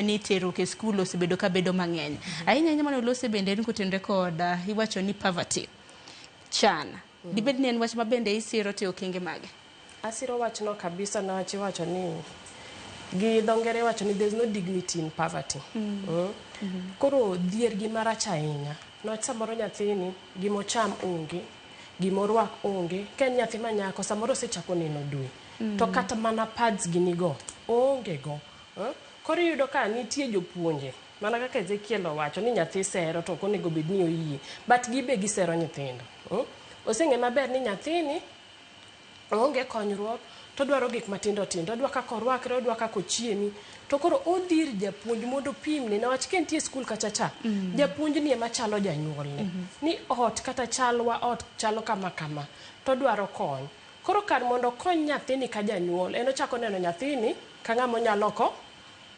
ni terruok e skul osebedo ka bedo mang'eny ahinya ahinya mane olose bende en kotenre kod ah, iwacho ni poverty chan dibed ni en wach ma bende isiro te okenge mage asiro wachno kabisa niwach iwacho ni gi dho ngere iwacho ni there's no dignity in poverty Mm. koro dhier gima rach ahinya niwach samoro nyathini gima ocham onge gima orwak onge ka en nyathi ma nyako samoro osechako neno dwe Mm. to kata mana pads ginigo oongego Eh? Koro iyudo ka nitie jopuonje mana kaka Ezekiel owacho ni nyathi sero to ok onego bed ni oyie but gi be gisero nyithindo. Mm? Oseng'e maber ni nyathini oonge konyruok to odwaro gik matindo tindo odwa kaka orwakre odwa kaka ochiemi to koro odhi ir japuonj mondo opimne newach ka nitie skul kacha cha mm. japuonjni ema chalo janyuolne mm -hmm. ni ot kata chalwa ot chalo kama kama to odwaro kony koro kar mondo okony nyathini ka janyuol en ochako neno nyathini ka ng'ama onya loko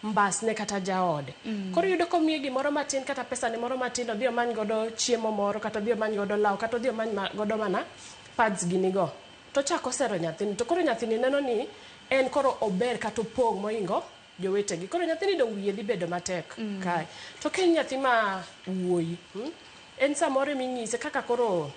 mbasne kata jaode. Mm. Koro iyudo komiye gimoro matin kata pesane moro matin odhi omany godo chiemo moro kata odhi omany godo law kata odhi omany ma- godo mana pads ginigo. To ochako osero nyathini to koro nyathini neno ni en koro ober kata opong' moingo jowetegi. Koro nyathini dong' wiye dhi bedo matek Mm. kae. To ka en nyathi ma wuoyi, mm, en samoro eminyise kaka koro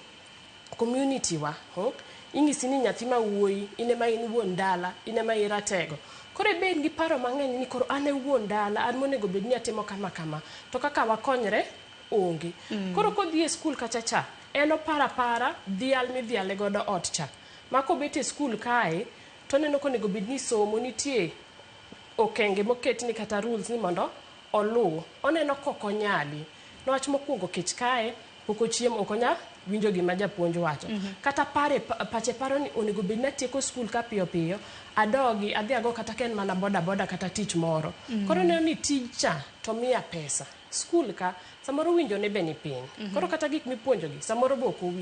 community wa hmm? inyisi ni nyathi ma wuoyi in ema in wuon dala in ema iratego koro ibed gi paro mang'eny ni koro an e wuon dala an monego bed ni atimo kama kama to kaka wakonyre onge mm. koro kodhi e skul kacha cha en opara para dhial midhiale godo ot cha ma kobet e skul kae to oneno konego bed ni somo nitie okenge moket ni kata rules ni mondo oluw oneno kokonyali niwach mokwongo kech kae pok ochiem ok onya winjo gima japuonj wacho kata pare pa- pache paro ni onego bed natieko skul ka piyo piyo adogi adhi ago kata ka en mana boda boda kata tich moro Mm. koro neno ni tijcha to miya pesa skul ka samoro winjone be ni piny koro kata gik mipuonjogi samoro be ok owinj